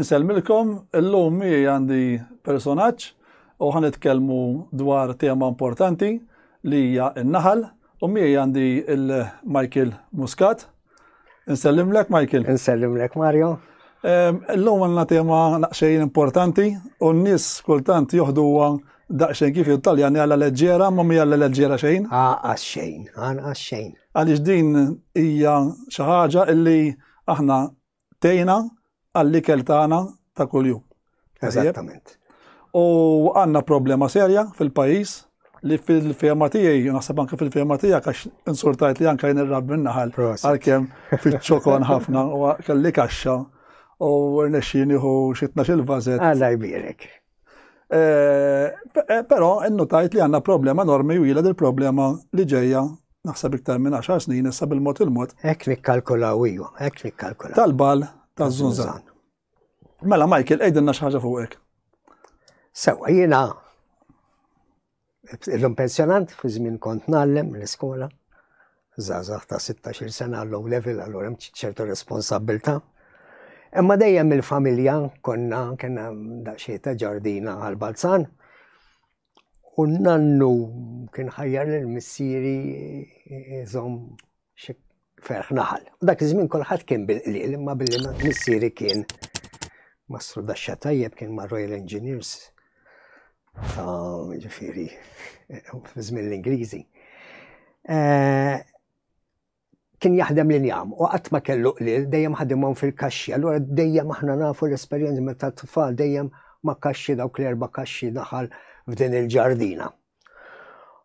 Insellmilkom, illum mi għandi personaġġ u ħanitkellmu dwar tema importanti li hija n-naħal u mi għandi il-Michael Muscat. Nsellimlek Michael. Nsellimlek Mario. L-lum għanna tema naqxejn importanti u n-nis kultant joħduwa daqxejn kif jittaljan għalla leġġera ma mi għalla leġġera xejn. Għaqqas xejn, għanqas xejn. Għalix din hija xaħġa illi aħna tgħinna għall-ikel tagħna ta' kuljum. Eżattament. U għandna problema serja fil-pajjiż li fil-fema tiegħi, naħseb anke fil-fema tiegħek għax insultajt li anke jien ir-rab minnaħal għalkemm fiċ-ċokon ħafna u kelli kaxxa u rnexxi nieħu xi tnax il-vażet. Alla jbierek. Eh, eh, però innutajt li għanna problema normi u jilad il-problema li ġeja naħseb iktar minn 10 snin issa bil-mod il-mod. Ek nikkalkulaw iju, ek nikkalkulaw. Tal-bal ta' zunzan. Mela Michael, ejdinna xaħġa fuq ek. Sewa, jina Illum pensjonant, fi żmien kont nallem l-iskola, zazax ta' 16 sena low level, allura hemm ċertu responsabilta. Imma dejjem il-familja konna kena daqsxejn ta' ġardina għal-Balzan. U nannu kien ħajjar l-missieri jizom Xi ferħ naħal. Dak iż-żmien kulħadd kien bil-qliel imma billi missieri kien Mastru Daxxa tajjeb kien ma' Royal Engineers ta' ġifieri żmien l-Ingliżi. Eh, kien jaħdem li njam u qatt ma kellu qlil dejjem ħadimhom fil-kaxxi. Allura dejjem aħna nafu l-esperjenza meta tfal dejjem ma' kaxxi dawk l-erba' kaxxi naħal f'din il-ġardina.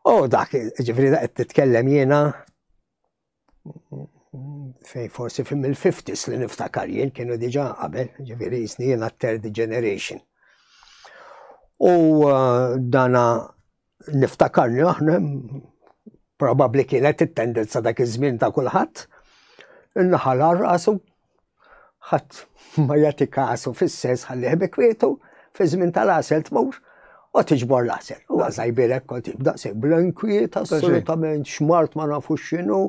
U dak, ġifri da titkellem jiena fej forsi fim il-50s li niftakar jien kienu diġa qabel, ġifiri jisni jiena third generation. U uh, dana niftakarni aħna probabli kienet it-tendenza dak iż-żmien ta' kulħadd, in-naħal arqasu ħadd ma jagħti kasu fis-sens ħalli ħbi kwietu, fi żmien tal-għasel tmur u tiġbor l-għasel. U għazajbirek kont jibda se bl-inkwiet assolutament xmart ma nafu x'inhu.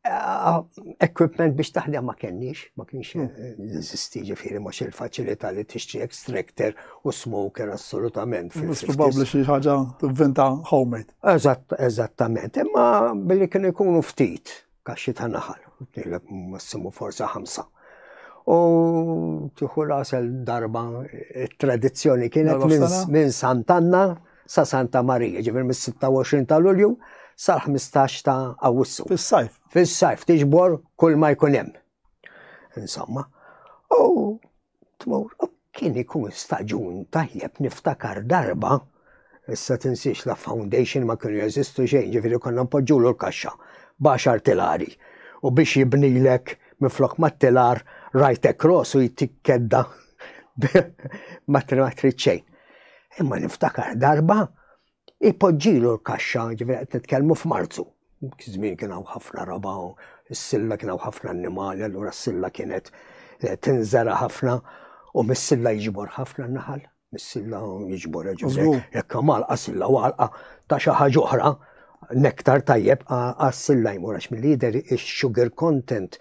Eh, equipment biex taħdem ma kenniex, ma kienx hmm. eh, jeżisti ġifieri mhux il-faċilità li tixtri extractor u smoker assolutament. Mhux probabbli xi ħaġa tivvinta homemade. Eżatt, eżattament, imma billi kienu jkunu ftit kaxxi ta' naħal, tnieleb massimu forsa ħamsa. U tieħu rasel darba tradizzjoni kienet minn Santanna sa Santa Marija, ġifir mis-26 ta' Lulju sal-15 ta' Awwissu. Fis-sajf. Fis-sajf tiġbor kull ma jkun hemm. Insomma, u tmur. Kien ikun staġun tajjeb niftakar darba issa tinsiex la foundation ma kienu jeżistu xejn, ġifieri konna npoġġulu l-kaxxa b'għaxar tilari u biex jibnilek minflok mat-tilar right across u jtik kedda ma trid xejn. Imma niftakar darba Ipoġġilu l-kaxxa, ġifieri qed nitkellmu f'Marzu. Żmien kien hawn ħafna raba' u s-silla kien hawn ħafna annimali, allura s-silla kienet eh, tinżera ħafna u mis-silla jiġbor ħafna naħal. Mis-silla jiġbor ġifieri jekk malqa silla walqa ta' xi ħaġa oħra nektar tajjeb għas-silla jmur għax mill-lider ix-sugar content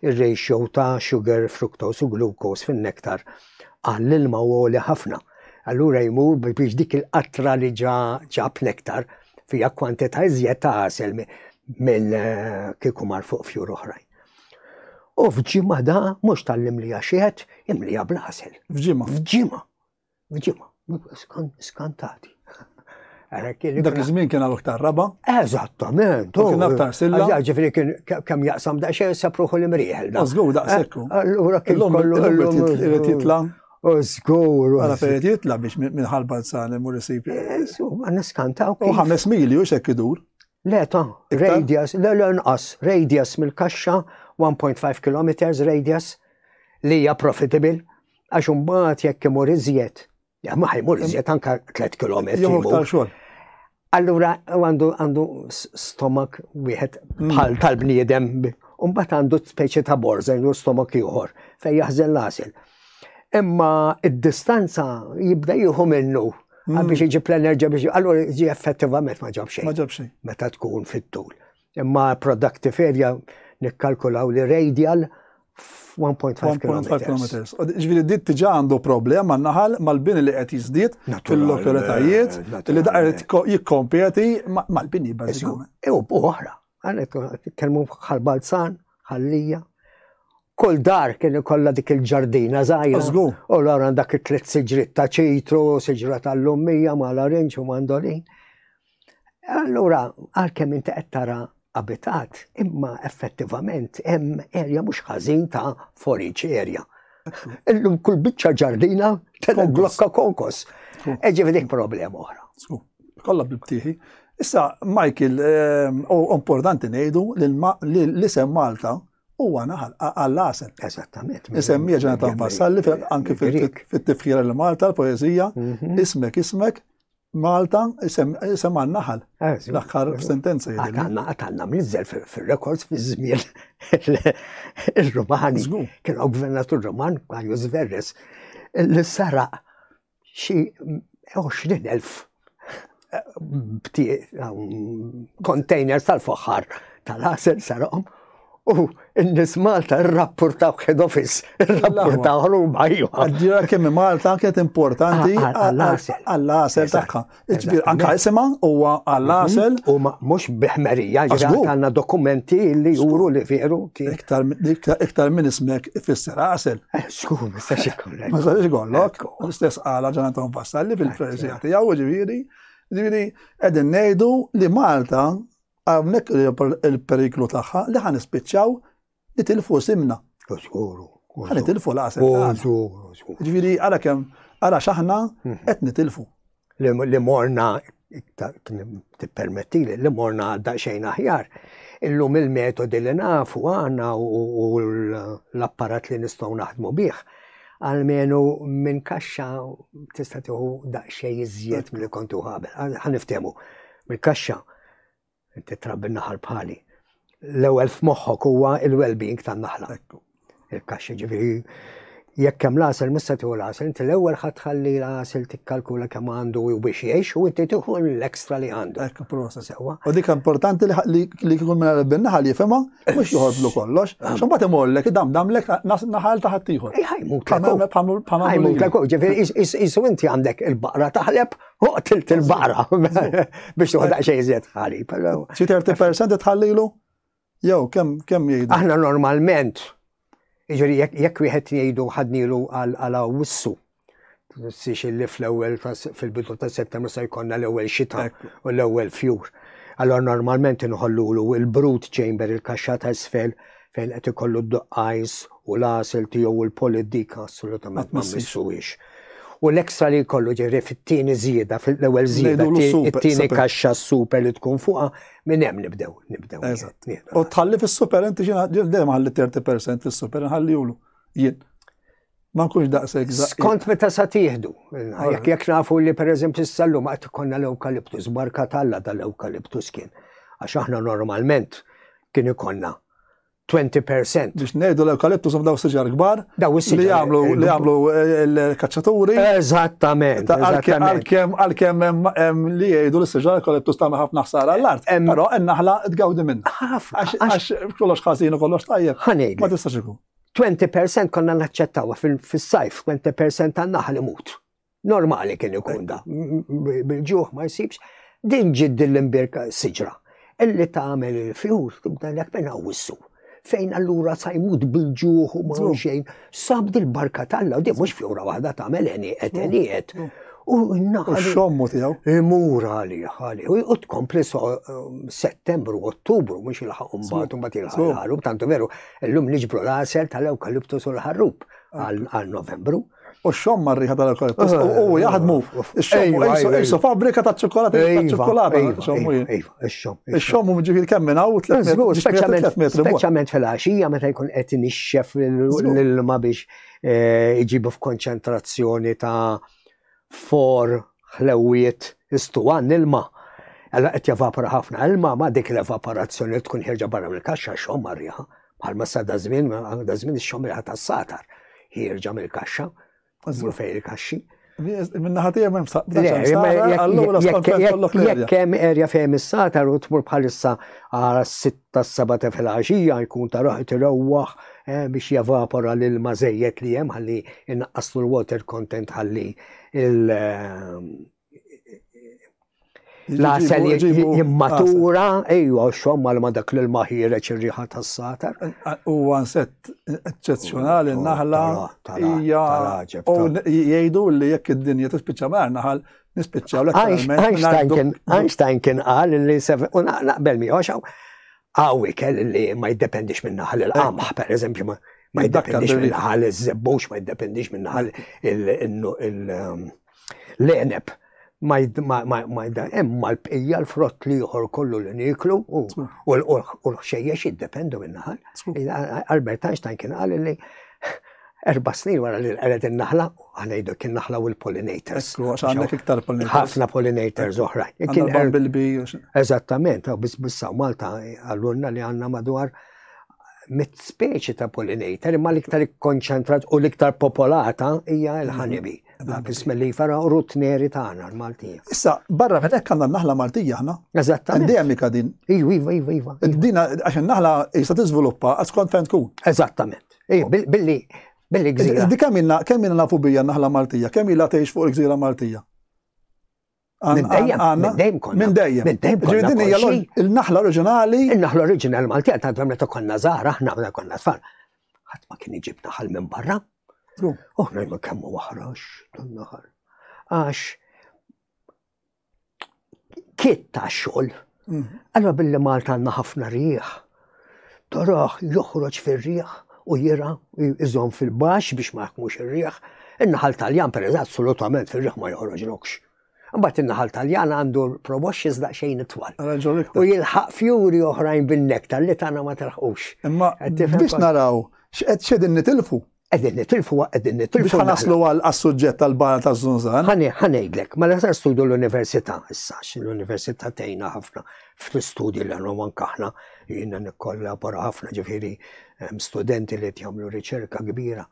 ir-ratio ta' sugar, fructose u glucose fin-nektar Ah, l-ilma huwa għoli ħafna. Allura jmur biex dik il-qatra li ġa ġab nektar fija kwantità iżjed ta' għasel mill eh, kieku mar fuq fjur oħrajn. U f'ġimma da mhux tal-imlija xiet, imlija bl-għasel. F'ġimma. F'ġimma. F'ġimma. Skantati. Dak iż-żmien kien hawn iktar raba. Eżattament. Kien aktar silla. Ġifieri kien kemm jaqsam daqsxejn sapruħu l-imrieħel. Żgur daqshekk. Eh, allura kien kollu irid jitla. U żgur. Għala fejn jitla biex minn ħalba nsan imur isib. Eh, insomma, niskantaw. U ħames mili u xekk idur. Le ta' radius, le le nqas, radius mill-kaxxa 1.5 km radius li hija profitable Għax imbagħad jekk imur iżjed, ma ħajmur iżjed anka 3 km. Jomur tal xogħol. Allura għandu għandu stomak wieħed mm. bħal tal-bniedem, u mbagħad għandu speċi ta' borza jew stomak ieħor fejn jaħżen l-għasil. Imma id-distanza jibda jieħu minnu mm. biex iġib l-enerġija biex allura ġi effettivament ma ġabx xejn. Ma ġabx xejn. Meta tkun fit-tul. Imma productive area nikkalkulaw li radial 1.5 km. Ġviri dit tiġa għandu problem ma naħal mal-bini li qed jizdit fil-lokalitajiet eh, li daqar jikkompeti mal-bini bazzikament. Ew oħra, għanet kelmu bħal-balzan, ħallija. Kull dar kien kolla dik il-ġardina zaħira. U l-għara dak it-tlet siġrit ta' ċitru, siġra tal-lummija, ma' l-arinċ u mandolin. Allura, għalkemm inti qed tara abitat, imma effettivament hemm erja mhux ħażin ta' foriġ erja. Illum kull biċċa ġardina tela glokka konkos. Eġi dik problema oħra. Kolla bibtiħi. Issa, Michael, ehm, u importanti nejdu li l-isem Malta u għana għall-għasen. Eżattament. Isem mieġa ta' passalli anki fil-tifħira l-Malta, l-poezija, mhm. ismek, ismek, Malta, isem għanna naħal. Eh, L-axħar sentenza jgħid. Għatanna, għatanna mizzel fil-rekords fi żmien il-Romani. Kien għaw gvernatur Roman, għanju Zverres, li sara xi 20.000 eh, containers tal-foħħar tal-ħasel sarahom U n-nis Malta rrappurtaw head office, rrappurtaw ħruma jgħu. Għadġira kemmi Malta kienet importanti ah, ah, għall-asel tagħha. Iġbir, anka jisima huwa għall-asel. Mm-hmm. U ma mux biħmerija, għanna dokumenti li juru li veru. Iktar minn ismek ifisser asel. Eh, Skur, ma stax ikollok. Ma stax ikollok, l-istess għala ġanatan Vassalli fil-prezjati, għaw ġviri, ġviri, edin nejdu li Malta Hawnhekk il-periklu tagħha li ħa nispiċċaw nitilfu simna. Żguru. Ħa nitilfu l-għasel. Żguru, żguru. Ġifieri ara kemm ara x'aħna mhm. qed nitilfu. Li morna tippermetti li morna daqsxejn aħjar. Illum il-metodi li nafu għandna u l-apparat li nistgħu naħdmu bih għalmenu minn kaxxa tista' tieħu daqsxejn iżjed milli kontu ħabel. Ħaniftehmu mill-kaxxa Inti trabbi naħal bħali. L-ewwel f'moħħok huwa il-well-being tan-naħla. Il-kaxxa ġifieri jekk hemm l-għasel mhux se tieħu l-għasel, inti l-ewwel ħadd ħalli l-għasel tikkalkula kemm għandu u biex jgħix u inti tieħu l-ekstra li għandu. Ekk prosa sewwa. U dik importanti li kikun minn għalbin naħal jifhimha mhux joħodlu kollox. Ah. X'imbagħad imollek dam damlek naħal ta' ħaddieħor. Ħajmut. Ħajmut. Ġifieri isu inti għandek il-baqra taħleb U qtilt il-baqra biex tuħda xejn żied ħali. Xi 30% tħallilu? Jew kemm kemm jgħidu? Aħna normalment jiġri jekk wieħed jgħidu ħadnilu għal wissu. Six li fl-ewwel fil-bidu ta' settembru se jkollna l-ewwel xita u l-ewwel fjur. Allora normalment inħollulu il-brut chamber il-kaxxa ta' isfel fejn qed ikollu d-duqqajs u l-għasel tiegħu u l-polid dik assolutament ma missuwiex. U l-ekstra li jkollu ġiri fit-tieni żieda, fil-ewwel żieda, it-tieni kaxxa super li tkun fuqha, minn hemm nibdew, nibdew. Eżatt. U tħalli fis-super inti ġiena dejjem ħalli 30% fis-super, nħalli julu. Jien. Ma nkunx daqshekk daqshekk. Skont meta sa tieħdu. Jekk jekk nafu li pereżempju s-sallum qed ikollna l-ewkaliptus, barka talla tal-ewkaliptus kien. Għax aħna normalment kien ikollna 20%. Biex ngħidu l-ewkaliptus daw siġar kbar. Daw is Li jagħmlu li jagħmlu l-kaċċaturi. Eżattament. Għalkemm għalkemm hemm li jgħidu li s-siġar ewkaliptus tagħmel ħafna ħsara għall-art. Però n-naħla tgawdi minn. Għax kollox ħażin u kollox tajjeb. Ma tistax ikun. 20% konna naċċettawha fis-sajf, 20% tan-naħal imut. Normali kien ikun da. Bil-ġuħ ma jsibx. Din ġid din l-imbirka siġra. Illi tagħmel il-fjur tibda lek minn wissu. Fejn allura sa jmut bil-ġuħ u ma xejn. Sab dil-barka tal-la, di mhux fjura waħda tagħmel eni qed eni qed. U naħal. Xommu tiegħu. Imur għali għali. U tkompli um, settembru, ottubru, mhux il-ħaq mbagħad mbagħad il-ħarub tantu veru. Illum niġbru l-għasel tal-ewkaliptus u l-ħarrub għal Novembru. U xom marriħa tal-ewkaliptus ah, u jaħdmu. Xom isu fabrika ta' ċokolata ta' iva, ċokolata. Iva, xom. Xom u ġifir kemm minn hawn Speċjalment fil-għaxija meta jkun qed nixxef l-ilma biex eh, iġibu f'konċentrazzjoni ta' for ħlewwiet istuwan ilma. Alla qed jevapora ħafna ilma ma dik l-evaporazzjoni li tkun ħirġa barra mill-kaxxa xomma riħa bħalma sa da żmien da żmien ix-xomma riħa tas-satar ħirġa mill-kaxxa u fejn il-kaxxi. Minna ħatija ma jimsaqqa. Jekk hemm erja fejn is-satar u tmur bħalissa għal tas-Sabata filgħaxija jkun ta' roħ qed irawwaħ biex jevapora l-ilma żejjed li hemm ħalli jnaqqaslu l-water content ħalli l-għasel jimmatura, ejwa, xom mal ma dak l-ilma ħireċ ir-riħa tas-satar. U għansett eccezjonali naħla hija jgħidu li jekk id-dinja tispiċċa mar naħal Nispiċċaw l Einstein kien qal li u naqbel miegħu xaw. Għawi kell li ma jiddependix minn naħal il-qamħ, per eżempju, ma jiddependix minn naħal iż-żebbux, ma jiddependix minn naħal il-leneb. Um, ma imma l-bqija l-frott li jħor kollu li niklu u l-ħxejjex jiddependu minn naħal. Albert Einstein kien qal li Erba' snin wara li nqered in-naħla, aħna jgħidu kien naħla u l-pollinators. Għandek iktar pollinators. Ħafna pollinators oħra. Kien bumblebee. Er- Eżattament, u biss bissa Malta għallunna li għandna madwar mit speċi ta' pollinator, imma l-iktar ikkonċentrat u l-iktar popolata hija l-ħanibi. Bismillah li fara u rutneri tagħna l-Maltija. Issa, barra minn hekk għandna naħla Maltija aħna. Eżattament. Endemika din. Iva, iva, iva, iva. Dina għax naħla jista' tiżviluppa għaskont fejn tkun. Eżattament. Ej, billi, billi gżira. Di kemm minna, kemm minna nafu bija naħla Maltija, kemm ila tgħix fuq il-gżira Maltija. Minn dejjem, minn dejjem konna. Minn dejjem. Minn dejjem konna. Ġirdin hija l-naħla oriġinali. Il-naħla oriġinali Maltija ta' dwem meta konna żgħar aħna meta konna tfal. Ħadd ma kien iġib naħal minn barra. Uħna ma kemm waħrax dan naħal. Għax kiet ta' xogħol. Mm. Allora billi Malta għandna ħafna rieħ, toroħ joħroġ fir-rieħ u jira iżom fil-bax biex ma jħakmux ir-rieħ. In-naħal taljan per assolutament fir-rieħ ma joħroġ lokx. Mbagħad in-naħal taljan għandu proboxx iżda xejn itwal. U jilħaq fjuri oħrajn bin-nektar li tagħna ma telħqux. Imma biex naraw x'qed xedin nitilfu. Qegħdin nitilfuha, qegħdin nitilfuha. Biex ħanaslu għal-suġġett tal-bara ta' Zunzan. Ħani, ħanejdlek, ma l-ħsar studju l-Università, issa, l-Università tejna ħafna fl-istudji li għannu man kaħna, jina nikkollabora ħafna ġifiri studenti li jtjamlu riċerka kbira.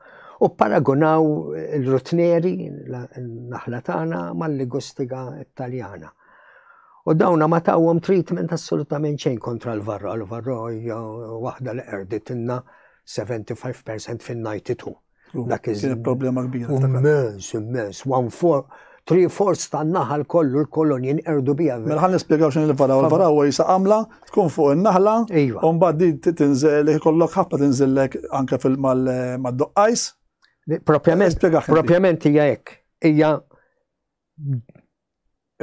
U paragonaw il-rutneri, naħla tagħna mal-ligustiga italjana. U dawna ma tawhom treatment assolutament xejn kontra l-varro, l-varro hija waħda li qerditinna 75 percent fin-92. Dak iż-żmien. problema kbira. Immens, immens. One four, three fourths tan-naħal kollu l-kolonji nqerdu bija. Mela ħan nispjegaw x'in il-varaw. Il-varaw huwa jisa għamla tkun fuq in-naħla. Iva. U mbagħad di tinżel ikollok ħabta tinżillek anke fil-mal-doqqajs. Propjament, propjament hija hekk. Hija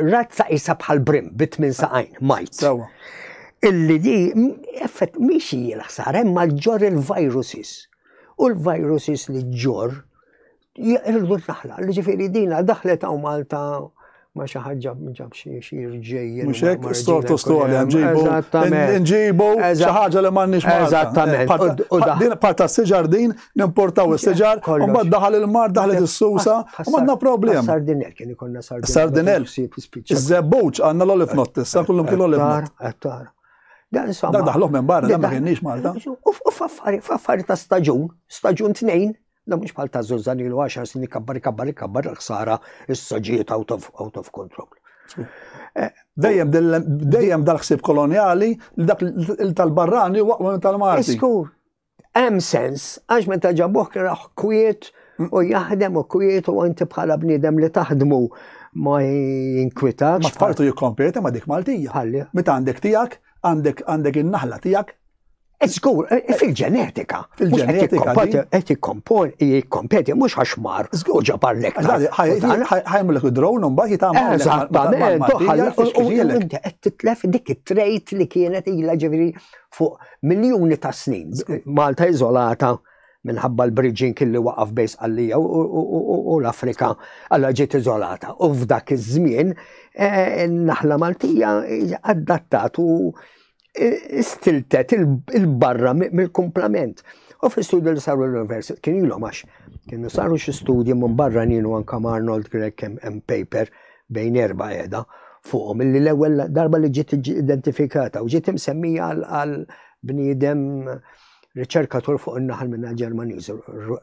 razza isa bħal brim bi tmien ah, saqajn, majt. Illi di, effett, miex hija l-ħsara, imma ġor il-viruses. U l-viruses li ġor, jirdu naħla, li ġifiri dina daħlet għaw Malta ma xi ħaġa ġab xi jirġej. Mhux hekk stortu storja nġibu. Nġibu xi ħaġa li m'għandniex Eżattament. Din parta siġar din nimportaw is-siġar, u mbagħad daħal il-mar, daħlet is-susa, u għandna problem. Sardinel kien ikonna sardinel. Sardinel. Iż-żebbuġ għandna l-olif not issa, kullum kien l-olif not. Dan insomma. Dan daħluh minn barra, dan ma kienniex Malta. U f'affari ta' staġun, staġun tnejn, Da mux bħal ta' zuzzan ilu għaxar snin kabbar kabbar kabbar l-ħsara s-soġiet out of control. Eh, dejjem dejjem dal-ħsib koloniali li dak il-tal-barrani waqwa tal-Marti. Iskur, Hemm sens, għax meta ġabuh kien raħ kwiet u jaħdem u kwiet u inti bħala bniedem li taħdmu ma jinkwitax. Ma tfartu jikkompeti ma dik Maltija. Ħalli. Meta għandek tiegħek, għandek għandek in-naħla tiegħek. Żgur, eh, eh, fil-ġenetika. Fil-ġenetika. Qed jikkompon, jikkompeti mhux għax mar u ġabar lek. Ħajmlek id-drone u mbagħad jitgħamel. Eżattament, u qed titlef dik it-trejt li kienet ilha ġifieri fuq miljuni ta' snin. Malta iżolata minħabba l-bridging li waqaf bejn Sqallija u l-Afrika għalla ġiet iżolata. U f'dak iż-żmien eh, naħla Maltija adattat u eh, stiltet il-barra mill-kumplament. U fi studi li saru l-University kien ilhom għax kienu saru xi studji minn barra nienu anka Arnold Grek hemm paper bejn erba' qiegħda fuqhom illi l-ewwel darba li ġiet identifikata u ġiet imsemmija għal bniedem riċerkatur fuq in-naħal minn Ġermaniż,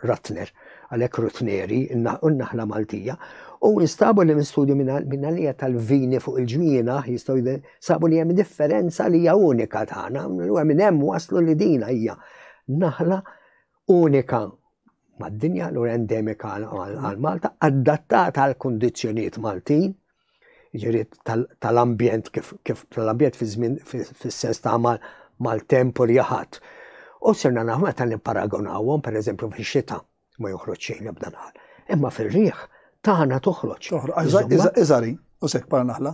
Ratner, għalhekk Rutneri, in-naħla Maltija, u instabu li minn studju minn għalija tal-vini fuq il-ġwina jistgħu sabu li hemm differenza li hija unika tagħna, u minn hemm waslu li dina hija naħla unika mad-dinja, allura endemika għal Malta, adattata għal kundizzjonijiet Maltin, ġiri tal-ambjent kif tal-ambjent fi żmien fis-sens ta' mal-temp u rjaħat. U sirna naħ meta nipparagonawhom pereżempju fix-xita ma joħroġ xejn ebda naħal. Imma fir-riħ tagħna toħroġ. Iżari, u sekk para naħla.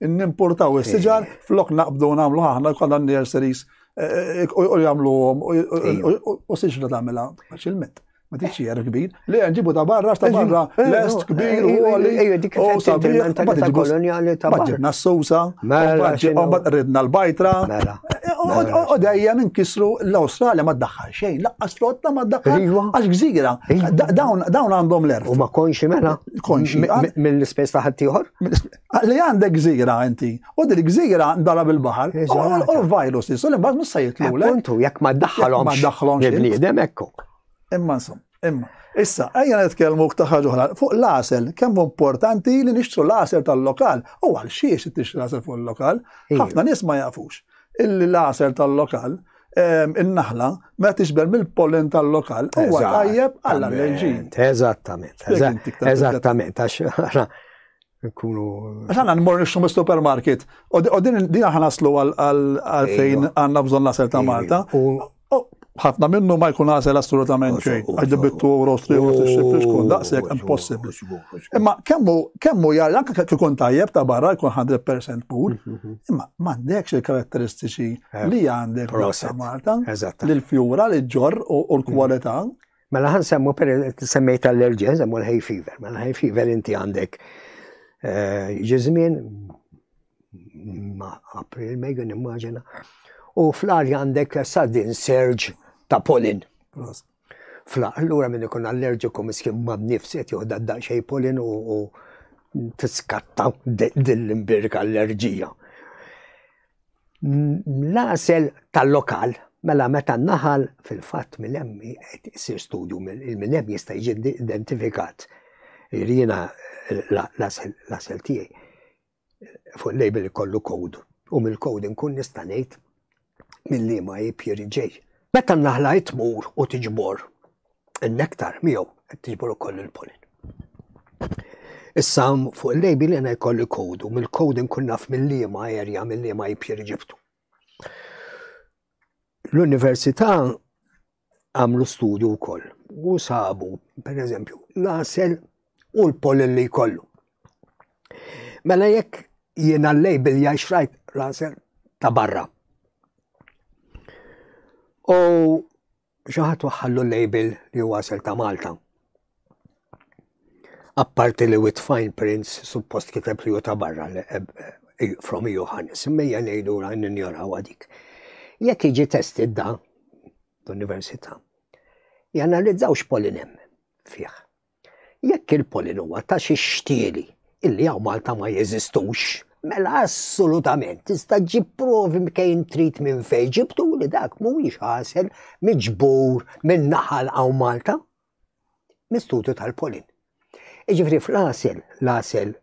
Nimpurtaw is-siġar flok naqbdu nagħmlu aħna kollha nurseries eh, eh, u jagħmlu u siġra tagħmilha faċilment. Ma tix xi kbir, li nġibu ta' barra ta' barra eh, lest kbir u għali. Ejju dik il-mentalità koloniali ta' barra. Ġibna s-sousa, mela, ridna l-bajtra. Mela. U dejjem inkisru l-Awstralja ma ddaħħal xejn, laqqas flotta ma ddaħħal iva. għax gżira. Iva. Dawn għandhom l-erf. U ma konxi mela? Konxi. Mill-ispess ta' ħaddieħor? Li għandek gżira inti, u dil gżira ndara bil-bahar, u l-virus li sul imbagħad mhux se jitlulek. Puntu, jekk ma daħħalhom. Ma daħħalhom il-bniedem ekku. Imma nsum, imma. Issa, ejja nitkellmu ta' ħaġa oħra. Fuq l-asel, kemm importanti li nixtru l-asel tal-lokal. U għal xiex tixtri l-asel fuq il-lokal? Ħafna nies ma jafux. Il-asel tal-lokal, ehm, in-naħla, ma tixber mill-pollen tal-lokal, huwa tajjeb għall-allerġin. Eżattament, eżattament, għax Nkunu. Għax għanna nmur nixtu mis supermarket u din din ħanaslu għal fejn għanna bżon nasel ta' Malta. ħafna minnu ma jkun għasel assolutament xejn, għax dibittu u rostri u t-xibri xkun daqsek impossibli. Imma kemmu, kemmu jgħal, anka kikun tajjeb ta' barra jkun 100% pur, mhm. imma mandekx il-karatteristiċi eh, li għandek ta' Malta, l-fjura, l-ġor u l-kwalità. Mela ħan semmu per semmejt allerġija, semmu l-hay fever. Mela l-hay fever inti għandek eh, ġizmin, ma april mejju nimmaġina, u fl-arja għandek sudden surge ta' pollen. Fla, allura minn ikun allerġiku miskin ma' nifs qed joħda daqsxej pollen u tiskatta din l-imbirka allerġija. L-għasel tal-lokal, mela meta naħal fil-fatt minn hemm qed isir studju minn hemm jista' jiġi identifikat. Jiena l-għasel tiegħi fuq label kollu kod u mill-kod inkun nista' ngħid mill-liema APR ġej. Meta naħla tmur u tiġbor n-nektar miegħu qed tiġbor ukoll il-pollen. Issa fuq il-lejbi li għana jkolli kodu, mill-kodu nkun naf mill-liema erja, mill-liema jibxir ġibtu. L-Università għamlu studju wkoll u sabu, per eżempju, l-asel u l-pollen li jkollu. Mela jekk jiena l-lej bil xrajt l-asel ta' barra. U xi ħadd waħħallu l-label li huwa għasel ta' Malta. Apparti li with fine prints suppost kiteb li ta' barra li eh, eh, from Johannes, immejja ngħidu ra ninjoraw għadik. Jekk iġi testi da l-Università, janalizzaw x'polinem fih. Jekk il-pollen huwa ta' xi xtieli illi hawn Malta ma jeżistux, mela assolutament tista' ġġib provi mkejn trid minn fejn ġibtu li dak mhuwiex ħasel miġbur minn naħal hawn Malta. Mistutu tal-pollen. Iġifri fl-għasel, l-għasel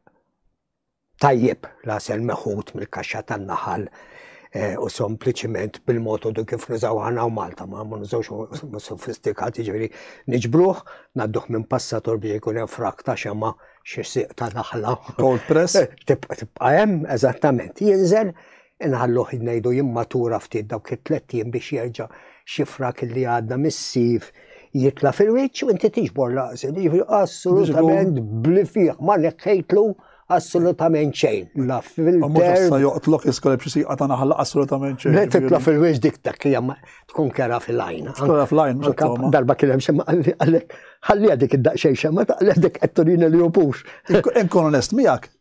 tajjeb l-għasel meħud mill-kaxxa tan-naħal eh, u sempliċiment bil-motodu kif nużaw għana u Malta, ma ma nużawx sofistikati ġveri niġbruħ, nadduħ minn passator biex ikun hemm frak ta' xema xi siq ta' naħla. Cold press? Tibqa' hemm, eżattament. Jinżel Inħalluh ngħidu jimmatura ftit dawk it-tlett jiem biex jerġa' xi frak li għadna mis-sif jitla' fil-wiċċ u inti tiġbor laqsi. Jiġifieri assolutament bli fih ma neħħejtlu assolutament xejn. La filter. Sa joqtlok iskola b'xi siqa ta' naħla assolutament xejn. Le titla fil-wiġ dik ta' kjem tkun kera fil-lajn. Kera fil-lajn, darba kien hemm xemma għalli għalli għadik id-daqxej xemma ta' għalli għadik għetturin li jupux. Inkun onest miegħek,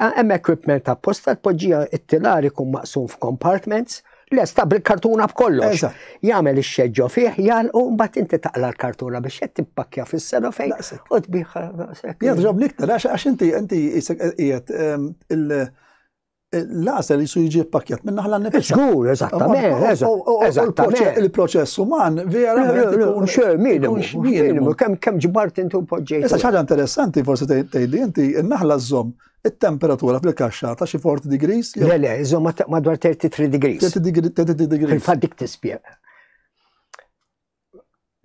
Hemm equipment apposta tpoġġija it-tilar ikun maqsum f'compartments lesta bil-kartuna b'kollox. Jagħmel ix-xeġġo fih, jgħalqu mbagħad inti taqla l-kartuna biex qed tippakja fis-selofejn u tbiħha daqshekk. Jadrob niktar għax inti inti qiegħed ehm, l-għasel jisu jiġi pakket minna ħalla nifis. Zgur, eżattament. Il-proċess uman vera. Xer, minimu. Minimu, kem, kem ġbart inti u poġġejt. Issa ħaġa interessanti forsi tgħidi inti n-naħla żomm it-temperatura fil-kaxxa ta' xi 40 degrees. Le le, żomm madwar 33 degrees. 33 degrees. Fil-fatt dik tispjega.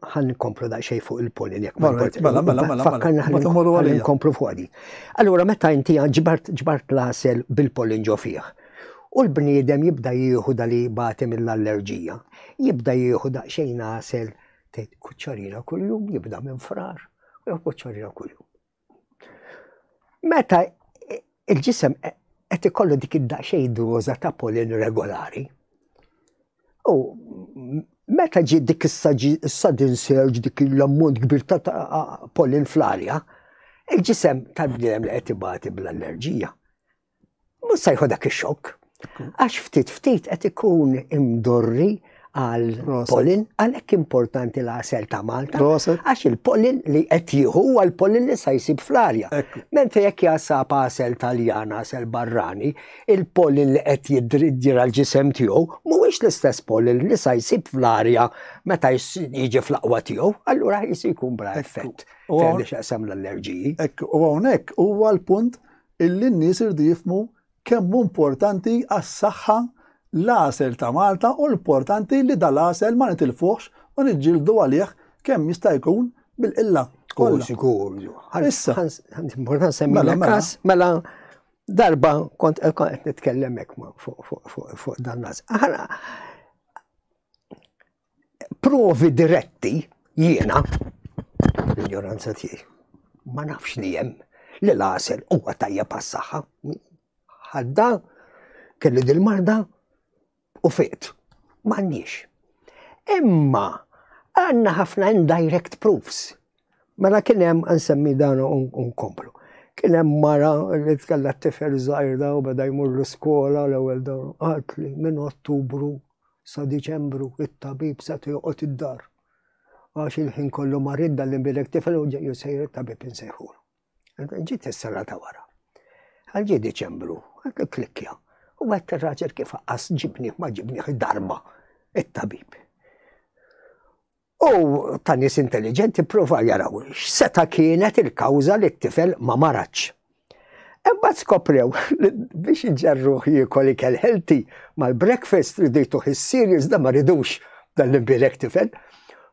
Ħan nkomplu da xej fuq il-polin jekk ma mela, mela, mela, mela. Fakkarna ħan nkomplu fuq għadi. Allura meta inti ġbart ġbart l-asel bil-polin ġo fih. U l-bniedem jibda jieħu dali batem mill-allerġija. Jibda jieħu daqsxejn asel Tgħid kuċċarina kuljum jibda minn frar u jew kuċċarina kuljum. Meta il-ġisem qed ikollu dik id-daqsxejn doża ta' polin regolari. U meta ġi dik is-sudden surge dik l-ammont kbir ta' polin fl-arja, il-ġisem tal-bniedem li qed ibati bl-allerġija Mhux se dak ix-xokk. Għax ftit ftit qed ikun imdorri għal polin, għalhekk importanti l-għasel ta' Malta. Għax il-polin li qed jieħu huwa l-polin li sa jsib fl-arja. Mentri jekk jasab għasel Taljan, għasel barrani, il-polin li qed jidriddir għal ġisem tiegħu mhuwiex l-istess polin li sa jsib fl-arja meta jiġi fl-aqwa tiegħu, allura jisi jkun bla effett. U għawnek, u għawnek, u għal-punt illi n-nies iridu jifhmu kemm hu importanti għas-saħħa l-għasel ta' Malta u l-portanti li dal-għasel ma nitilfuhx u niġġieldu għalih kemm jista' jkun bil-qilla kollha. Issa. Importanti semmilek mela, każ, mela, mela darba kont qed nitkellem hekk fuq dan l-għażel. provi diretti jiena l-ignoranza tiegħi. Ma nafx li hemm li l-għasel huwa tajja pas-saħħa. Ħadda kelli dil-marda u fiqt. M'għandniex. Imma għandna ħafna indirect proofs. Mela kien hemm nsemmi dan unkomplu. Kien hemm mara li tkella t-tifel żgħir u beda jmur l-iskola l-ewwel dawn qatli minn Ottubru sa Diċembru it-tabib seta' joqgħod id-dar għax il-ħin kollu marid li bilek tifel u ġejju sejr it-tabib insejħu. Ġiet is-sena ta' wara. Għalġi Diċembru, għandu klikkja. U għed t-raġel kif għas ġibni ma ġibni darba it-tabib. U ta' nies intelliġenti ppruvaw jaraw x'seta' kienet il-kawża li t-tifel ma maratx. Imbagħad skoprew li biex iġġarruh jiekol ikel healthy mal-breakfast ridu jtuh is-cereals da ma ridux dan l-imbierek tifel.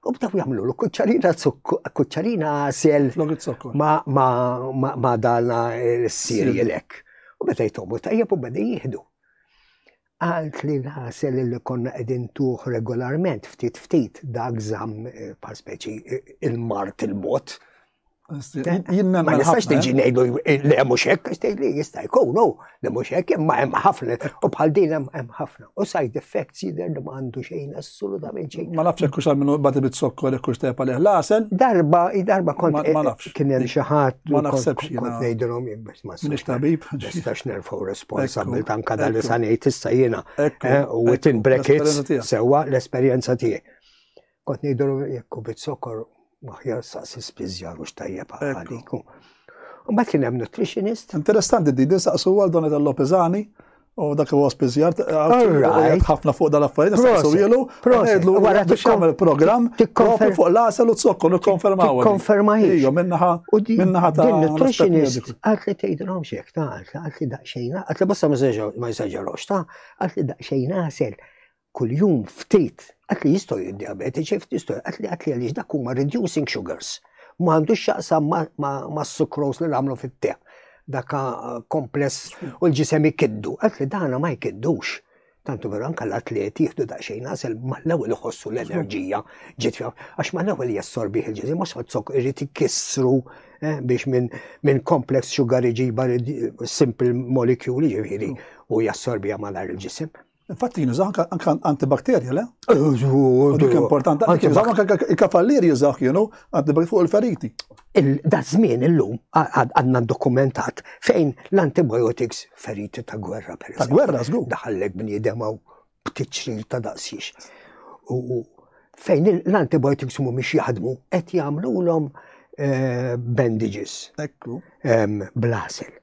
U bdew jagħmlulu kuċċarina kuċċarina għasel ma' dan is-cereal hekk. U meta jtomu tajjeb u beda jieħdu. Għalt li l-għasel li konna qegħdin ntuh regolarment ftit ftit dak żamm eh, bħal speċi eh, il-mart il-bot. Jimmen ma nistax tiġi ngħidu eh, li hemm mhux hekk għax tgħidli jista' jkun hu li mhux hekk imma hemm ħafna u bħal din hemm ħafna. U side effects jidher li ma għandu xejn assolutament xejn. Ma nafx hekk hux minnu bad bit sokkor hekk hux tepa leh l-għasel. Darba, darba kont kien hemm xi ħadd ma naħsebx ngħidilhom jien Minix tabib. Nistax nerfaw responsabil tanka dal sanejt issa jena. Eh, u within brackets sewa l-esperienza tiegħi. Kont ngħidu jekku bit-sokor maħjar saqsi spiżjar u xtajjeb għaliku. Mbagħad kien hemm nutritionist. Interessanti di din saqsu għal Donata Lopezani U dak huwa spiżjar, għajt ħafna fuq dal-affarijiet, nistaqsu ilu, ngħidlu wara tixkamel program, tikkonferma fuq l-għasel u t-zokkor, nikkonfermaw. Konferma hi. Ija, minnaħa, minnaħa ta' nutritionist, għat li tgħidilhom xek, ta' għat li daqsxejn, għat li bosta ma jżeġġarux, ta' għat li daqsxejn għasel. kuljum ftit, għat li jistgħu jiddiabetiċi, ftit jistgħu għat li għat li għaliex dak huma reducing sugars. Ma għandux xaqsam ma' sukros li nagħmlu fit-te. Daka eh, kompless u l-ġisem ikiddu. Għat li dana ma jkiddux. Tantu vera anka l-atleti jieħdu daqsxejn għasel mal-ewwel iħossu l-enerġija ġiet għax mal-ewwel jassorbi il-ġisem ma sozzok irid ikissru eh, biex minn complex sugar iġiba simple molecule ġifieri u jassorbija mal-ġisem. Infatti jinużaw anka antibakterja, le? Dik importanti. Jinużaw anka il-kafallier jizaw kienu antibakterja fuq il-feriti. Da żmien illum għadna dokumentat fejn l-antibiotics feriti ta' gwerra per Ta' gwerra żgur. Daħallek bniedem għaw b'tiċċir ta' daqsiex. U fejn l-antibiotics mhumiex jaħdmu qed jagħmlulhom eh, bandages. Ekku. Blasel.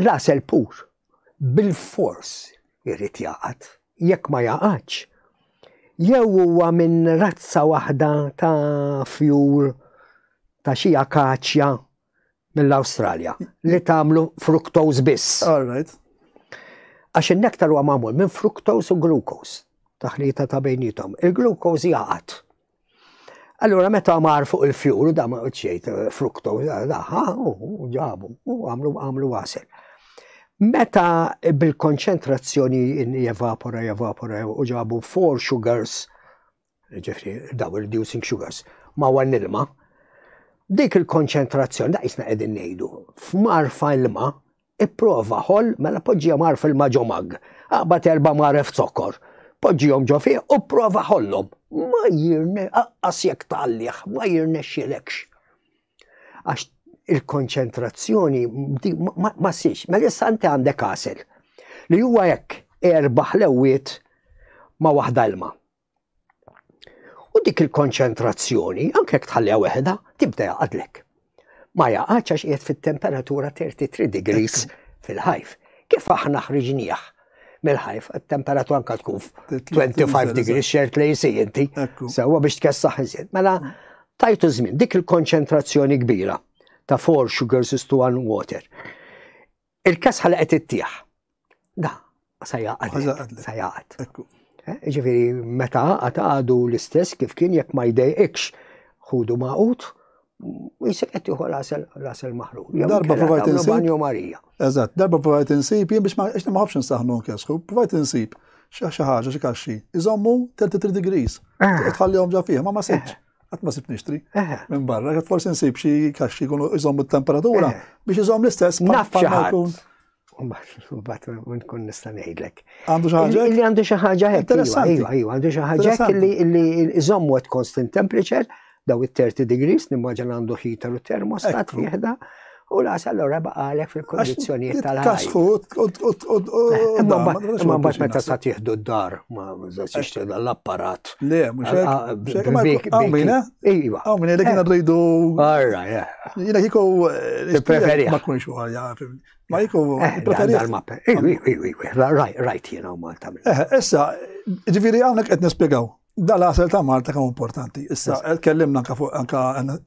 L-għasel pur bilfors irid jaqgħad. Jekk ma jaqgħadx, jew huwa minn razza waħda ta' fjur ta' xi akaċja mill-Awstralja li tagħmlu fructose biss. Għax in-nektar huwa magħmul minn fructose u glucose, taħlita ta' bejnietom. Il-glucose jaqgħad Allura meta mar fuq il-fjur, da ma ċejt eh, frukto, daħħa, u ġabu, u għamlu għamlu għasel. Meta bil-konċentrazzjoni jevapora, jevapora, u ġabu four sugars, ġifri, daw reducing sugars, ma għan ilma, dik il-konċentrazzjoni, da jisna edin nejdu, f'mar f'ilma, Ipprova ħoll, mela poġġihom għar fil-ma ġo mag. Aqbad erba' maref zokkor. Poġġihom ġo fih u prova ħollhom. Ma jirne, aqqas jekk tgħallih, ma jirnexxilekx. Għax il-konċentrazzjoni ma siex, ma mela issa inti għandek għasel li huwa hekk erba' ħlewwiet ma' waħda ilma. U dik il-konċentrazzjoni, anke jekk tħalliha weħda, tibda jaqadlek. Ma jaqgħadx għax qiegħed fit-temperatura 33 degrees fil-ħajf. Kif aħna ħriġnieh mill-ħajf, temperatura anka tkun 25 degrees xert li jisi inti, sewa biex tkessaħ iżjed. Mela, tajtu żmien, dik il-konċentrazzjoni kbira ta' four sugars is to one water. Il-kesħa li qed ittieħ. Da, sa jaqgħad. Sa jaqgħad. Eh, ġifieri meta għad għadu l-istess kif kien jekk ma jdejqikx ħudu maqut, jisek qed jieħu rasel maħrur. Darba provajt insib. Marija. Eżatt, darba provajt insib, jien biex ma qed ma ħafx nsaħnu nkesħu, provajt insib xi ħaġa xi kaxxi. Iżommu 33 degrees. Eh. Tħallihom ġa fih, ma ma sibx. Eh. Għat ma sib nixtri. Minn barra, għat forsi nsib xie kaxxi kunu iżom il-temperatura eh. biex iżom l-istess. Nafċaħun. Bat nkun nista' ngħidlek. Għandu xi ħaġa? Illi għandu xi ħaġa hekk. Interessanti. Iva, iva, għandu xi ħaġa illi iżommu at constant temperature daw it-30 degrees nimmaġan għandu ħita u termostat fieħda. U las allora baqalek fil-kondizjoniet tal-ħajja. Kasħu Imma mbagħad meta sa tieħdu d-dar ma żaxixti l-apparat. Le, mhux Għawmina? Iva. Għawmina li kienu rridu. Arra, ja. Jiena kieku. Eh, Preferi. Ma kunx għalja, Ma jiku. Eh, Preferi. Iwi, iwi, iwi. Rajt jiena u Malta. Eh, issa, ġifieri hawnhekk qed nispjegaw. Dal għasel ta' Malta kemm importanti. Issa, tkellimna anka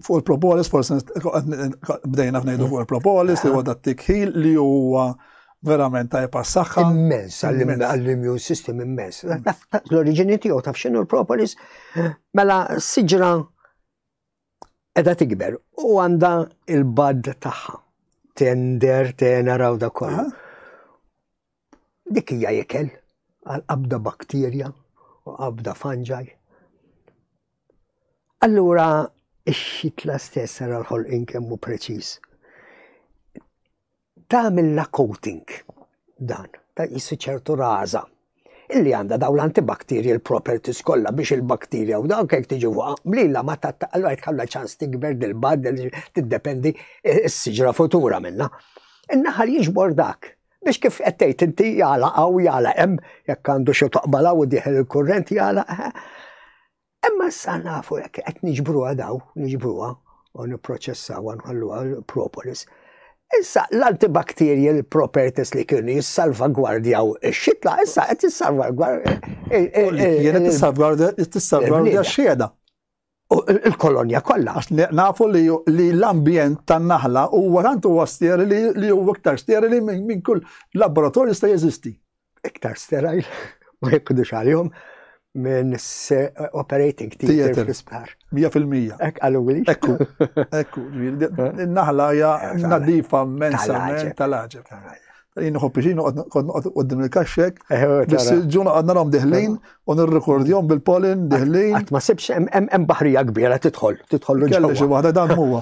fuq il-propolis, forse bdejna f'nejdu fuq il-propolis, li huwa dat tikħil li huwa verament ta' jepassaxa. Immens, għall-immune system immens. L-oriġini tiegħu taf xinu l-propolis, mela siġra edha tikber u għanda il-bad taħħa. Tender, tenera u da kollu. Dik hija jekel għal qabda bakterja u qabda fanġaj. Allura, ix-xitla stess għal ħol inkemmu preċis. tagħmilha coating dan, ta' jissi ċertu raża illi għandha daw l-antibacterial properties kollha biex il-bakterja u dawk jekk tiġi fuqha mlila ma ta' allura jkollha ċans tikber dil-bad tiddependi s-siġra futura minnha. In-naħal jiġbor dak biex kif qed tgħid inti jala hawn jala hemm jekk għandu xi toqbala u dieħel il-kurrent jala Imma issa nafu jekk qed niġbruha daw, niġbruha u nipproċessawha nħalluha propolis. Issa l-antibacterial properties li kienu jissalvagwardjaw ix-xitla, issa qed jissalvagwardja. Jena tissalvagwardja tissalvagwardja x-xieda. Il-kolonja kollha. Nafu li l-ambjent tan-naħla huwa tant huwa sterili li huwa iktar sterili minn kull laboratorju sta jeżisti. iktar sterile, ma jekudux għalihom minn operating theater fl-isptar. 100%. Ek għallu għili. Ekku, ekku. Naħla ja eh, nadifa mensa tal-ħagġeb. Jien nħobbi xin, għoddim il-kaxxek, eh, eh, bis ġuna għadna rom diħlin, u nirrekordjom bil-polin diħlin. Għat ma sebx, em bahrija kbira titħol, titħol l-ġewwa. Kelli xi waħda dan huwa.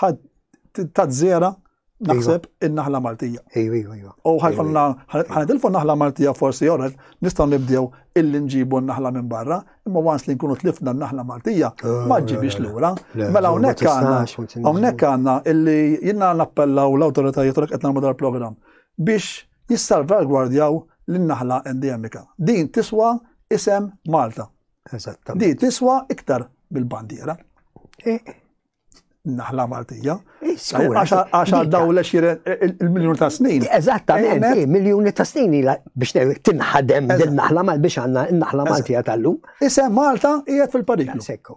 ħad tazzera naħseb iva. in-naħla Maltija. Ejwa, ejwa, ejwa. U ħajkonna, ħanidilfu naħla Maltija forsi jorret, nistaw nibdew illi nġibu n-naħla minn barra, imma wans li nkunu tlifna n-naħla Maltija, oh, ma ġibix l-ura. Mela hawnhekk għandna, hawnhekk għandna illi jinnna nappellaw l-awtoritajiet u qed nagħmlu dal-programm biex jissalvagwardjaw l-naħla endemika. Din tiswa isem Malta. Eżattament. Din tiswa iktar bil-bandiera. Eh, naħla Maltija. Għax għaddaw l il-miljon ta' snin. Eżattament, eh, miljoni ta' snin biex tinħadem din naħla mal biex għanna naħla Maltija tal-lum. Isem Malta jgħed fil-pariklu. Sekku.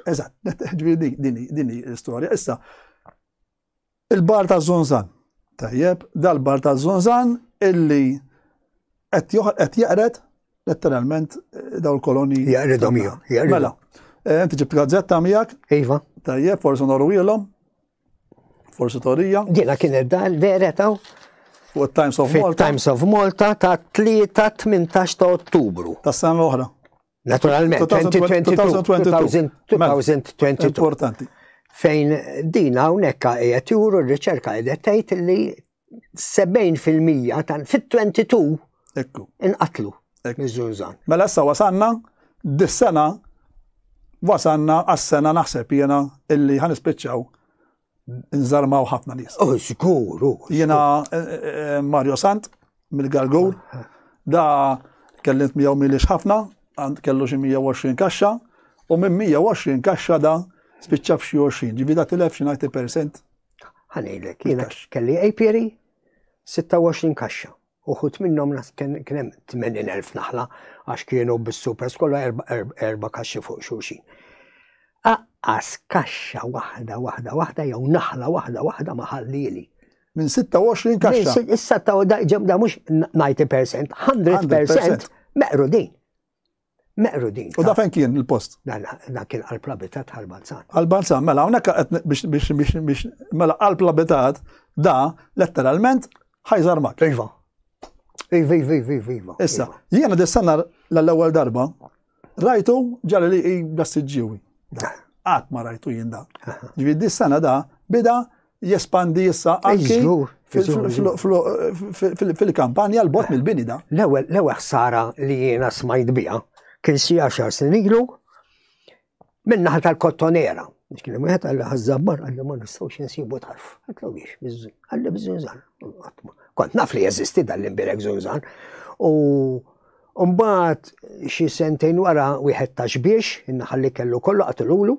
Eżatt, dini l-istoria. Issa, Il-bar ta' Zunzan. Tajjeb, dal-bar ta' Zunzan illi qed jaqred letteralment eh, daw l-koloni. Jaqredhom jom. Mela, eh, inti ġibt gazzetta miegħek. Iva. Tajjeb, forsi norwilhom. Forsi torija. Jiena kien dan vera taw. Fuq Times of Malta. Times of Malta ta' 3-18 ta' Ottubru. Ta' sena l-oħra. Naturalment, 2022. Importanti. Fejn din hawnhekk qiegħed juru r-riċerka qiegħed tgħid li 70% tan fit-22 Ekku. Inqatlu. Mizzunżan. Mela issa wasanna, dis-sena wasanna għas-sena naħseb jena illi ħan ispiċċaw nżarmaw ħafna nies. Oh, sikur, oh, Jena eh, eh, eh, Mario Sant, mill-Gargur, da kellimt miegħu milix ħafna, għand kellu xi 120 kaxxa, u minn 120 kaxxa da spiċċa f'xi 20, ġivi da tilef xi 90%. Ħanejlek, jiena kelli apiary 26 kaxxa. Uħud minnhom nas kien hemm 80,000 naħla għax kienu bis-super skola erba' kaxxi fuq xulxin. Aqqas kaxxa waħda waħda waħda jew naħla waħda waħda ma ħallieli. Minn 26 kaxxa. Issa ta' da mhux 90%, 100% meqru din. meqrudin. U da fejn kien il-post? Dan kien qalb l-abitat għal-Balzan. Għal-Balzan, mela, unek biex mela qalb l-abitat da letteralment ħajżar mak. Iva. Iva, iva, iva, iva, iva. Issa, iva. jiena dissanna l-ewwel darba, rajtu ġalli li i bassiġġiwi. Għat ma rajtu jinda. Ġvi dissanna da, bida jespandi issa anki fil-kampanja l-bot mill-bini da. L-ewwel l-ewwel ħsara li jiena smajt biha kien xi għaxar snin ilu minnaħa tal-kottonera. Kien hemm wieħed għal ħażabbar għal ma nistgħux insibu tarf. Għatlu biex biżżun, għalli bżunżan. Kont naf li jeżisti dan l-imbirek żunżan. U mbagħad xi sentejn wara wieħed ta' xbiex, innaħalli kellu kollu qatilulu,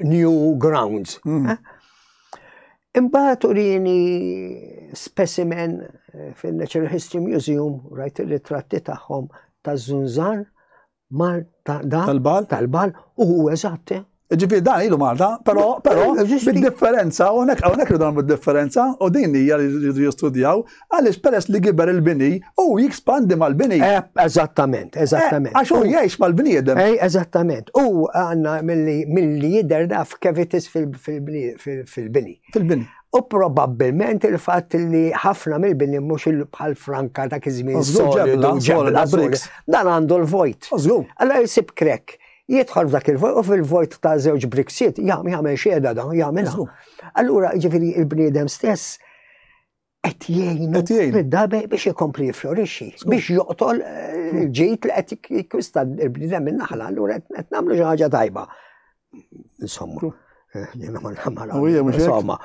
New Grounds. Hmm. Eh? Imbagħad urini specimen eh, fil-Natural History Museum, rajt il-ritratti tagħhom ta' Zunzan, mar tal-bal, tal-bal, u hu eżatt. Eh. Ġifieri dan ilu Malta, però però bid-differenza, hawnhekk hawnhekk ilu dan bid-differenza, u din hija li jistudjaw Għaliex peress li giber il-bini, u jikspandi mal-bini. Eh, eżattament, eh, eżattament. Għax u jgħix mal-bniedem. Ej, eh, eżattament. U għanna mill-li jider daf kevitis fil-bini. Fil-bini. U probabbilment il-fatt li ħafna mill-bini mhux il-bħal franka ta' kizmin solidu ġebla briks. Dan għandu l-vojt. Allora jisib krek jidħol f'dak il-vojt u fil-vojt ta' żewġ briksiet jagħmel xieda dan jagħmel. Allura ġifieri il-bniedem stess qed jgħinu mid-dabe biex ikompli jiflorixxi, biex joqtol eh, ġejt li qed jikwista l-bnidem min-naħla, allura qed nagħmlu xi ħaġa tajba. Insomma. Eh, jena ma namara. Insomma,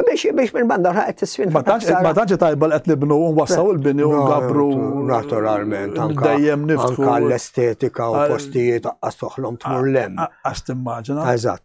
biex biex minn banda qed tisfin. Ma tantx tajba li qed nibnu u wassaw il-bini u ngabru. Naturalment, dejjem niftħu. l-estetika u postijiet għas toħlom tmur lem. Għas timmaġina. Eżatt.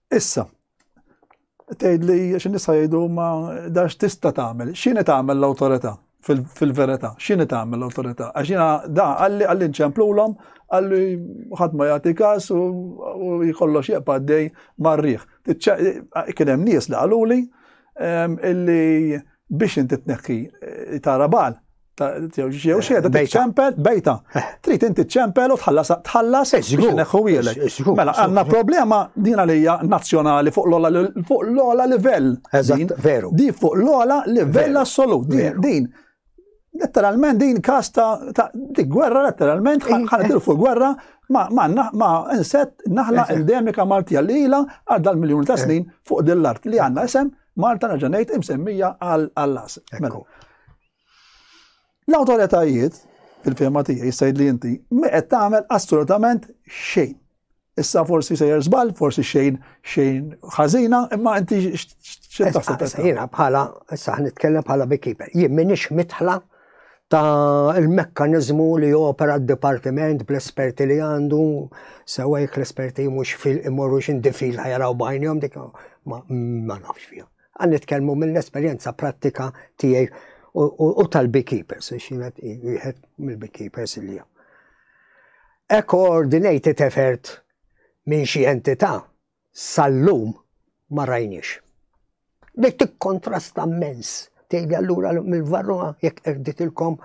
Issa, tgħid li xi nisa jgħidu ma dax tista' tagħmel, x'inhi tagħmel l-awtorità fil-verità, x'inhi tagħmel l-awtorità? Għax jiena da għalli għalli nċemplulhom għalli ħadd ma jagħti każ u jkollox jeqpa' dej marriħ. Kien hemm nies li qaluli ehm, illi biex inti tneħħi eh, tara bal, jew xieda tiċċempel bejta. Eh. Trid inti ċċempel u tħallas tħallas eh, biex neħħu wielek. Eh, mela għandna problema din għalija nazzjonali fuq l-ola livell. Eżatt, veru. Di fuq l-ola livell assolut. Din letteralment din kas ta' di gwerra letteralment ħanadil fuq gwerra ma ma inset naħla endemika Maltija li ila għal dal-miljoni ta' snin fuq dil-art li għandna isem Malta naġanejt imsemmija għal-las. Mela. L-awtoritajiet, fil-fehma tiegħi issa li inti, ma qed tagħmel assolutament xejn. Issa forsi sejjer żball, forsi xejn xejn ħażina, imma inti xejn taħseb. Jiena bħala, issa nitkellem bħala beekeeper, jien minix mitħla ta' il-mekkanizmu li opera d-dipartiment bl-esperti li għandu, sewa jek l-esperti mux fil-imorru xindifil ħajraw bajnjom dik ma nafx fija. Għan nitkellmu mill-esperjenza prattika tiegħi u tal-beekeepers, xienet jħed mill-beekeepers li jgħu. E coordinated effort minn xi entità sal-lum ma rajniex. Li tikkontrasta mens, tgħidli allura mill-varruha jekk erditilkom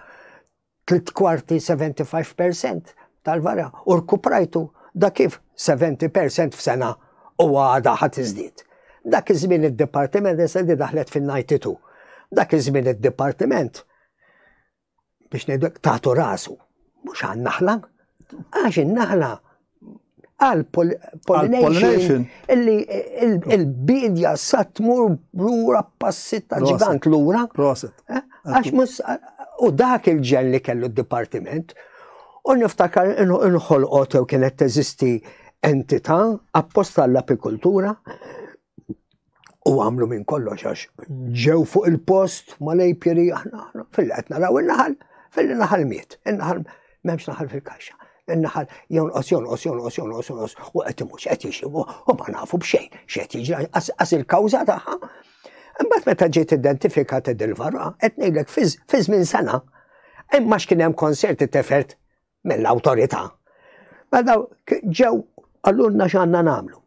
tliet kwarti 75% tal-vara u rkuprajtu da kif 70% f'sena u għada ħat iżdied. Dak iż-żmien id-dipartiment issa li daħlet fin-92. Dak iż-żmien id-dipartiment biex ngħidlek tagħtu rasu mhux għan-naħla għax in-naħla għal-pollination illi il-bidja sa tmur lura passi ta' ġigant lura. Eh? Għax mus u dak il-ġen li kellu d-dipartiment u niftakar inħolqot jew kienet teżisti entità apposta għall-apikultura u għamlu minn kollox għax ġew fuq il-post ma lejpjeri aħna fil qed naraw in-naħal fil-naħal miet, in-naħal m'hemmx naħal fil-kaxxa. In-naħal jonqos jonqos jonqos jonqos jonqos u qed imux qed jixibu u ma nafu b'xejn x'qed jiġi qas il-kawża tagħha. Imbagħad meta ġiet identifikat id-dilvara qed ngħidlek fi żmien sena imma x'kien hemm konserti tefert mill-awtorità. Meta ġew għallunna x'għandna nagħmlu.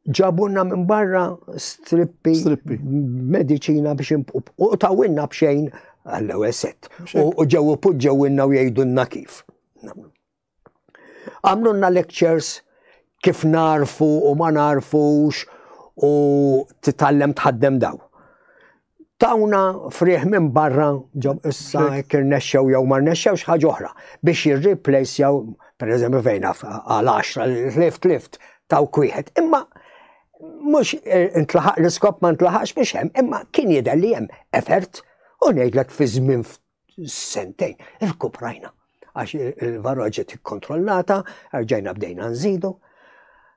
Ġabunna minn barra strippi, strippi. medicina biex u tawinna bxejn għall-ewwel set. U ġew poġġewinna u jgħidulna kif. Għamlunna lectures kif narfu u ma narfux u titallem tħaddem daw. tawna friħ minn barra ġo issa jekk irnexxew jew ma rnexxewx ħaġa oħra biex jirreplace jew pereżempju fejn għal 10 li tlift lift taw kwieħed. Imma mhux eh, intlaħaq l-iskop ma ntlaħaqx mhux hemm, imma kien jidher li hemm effort u ngħidlek fi żmien sentejn irkuprajna għax il-varroġi tikkontrollata, rġajna bdejna nżidu.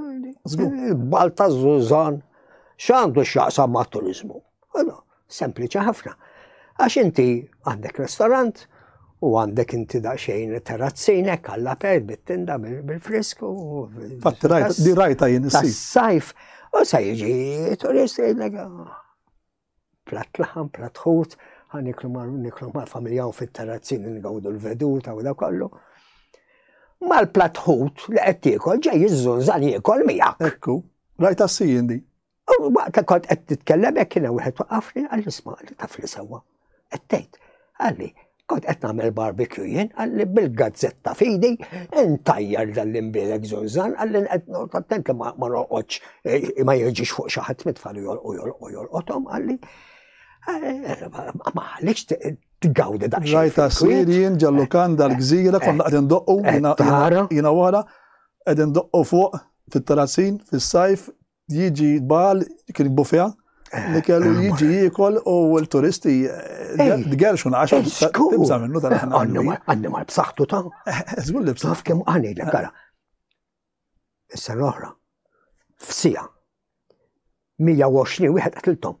Il-bal ta' Zuzan x'għandu x'jaqsam ma' turizmu. Sempliċi ħafna. Għax inti għandek restorant u għandek inti daqsxejn terrazzinek għalla per bit-tinda bil-frisk u. Fatt rajta jien is-sajf. U sa jiġi turist jgħidlek. Ah. Platt laħam, platt ħut, ħa niklu ma' niklu ma' familja u fit-terrazzin ngawdu l-veduta u da kollu. Mal-platt ħut li qed tiekol ġej jiżżunżan jiekol miegħek. Ekku, rajt assijin di. U waqt kont qed titkellem hekk kien wieħed waqafni għall-isma' li taf li sewwa. Qed tgħid, għalli, Kont qed nagħmel barbecue jien, għalli bil-gazzetta fidi, intajjar dan l-imbielek zonzan, għalli qed noqgħod attent li ma noqgħodx eh, ma jiġix fuq xi ħadd mitfal jolqu jolqu jolqothom għalli. Eh, ma għalix tgawdi dak. Rajta s-sir jien ġallu kan dal-gżira, konna qed indoqqu jiena wara, qed indoqqu fuq fit-terrazzin, fis-sajf, Jiġi bal, kien bufja, eh, li kellu eh, jiġi jikol u l-turisti d-gerxun eh, għax tibza minnu tal Għanni mar b'saħtu ta' zgur li b'saħtu. Kem għani l gara. Issa l-oħra, f'sija, 120 wieħed għatiltom.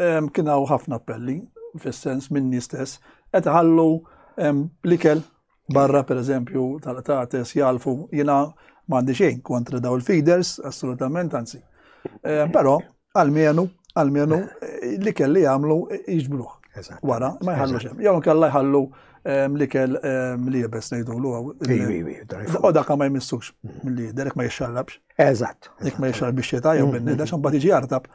Kien hawn ħafna appelli fis-sens minni stess qed iħallu l-ikel barra pereżempju tal-qtates jalfu jiena m'għandi xejn kontra daw il-feeders assolutament anzi. Però għalmenu għalmenu l-ikel li jagħmlu jiġbruh. Wara ma jħallu xem. Jew kalla jħallu l-ikel li jibes ngħidulu. Oda ka ma jmissux mm. mill-lider ma jixxallabx. Eżatt. Jek ma jixrab biex jitajja mm, minni, mm, daċ mm. mbagħad iġi jartab.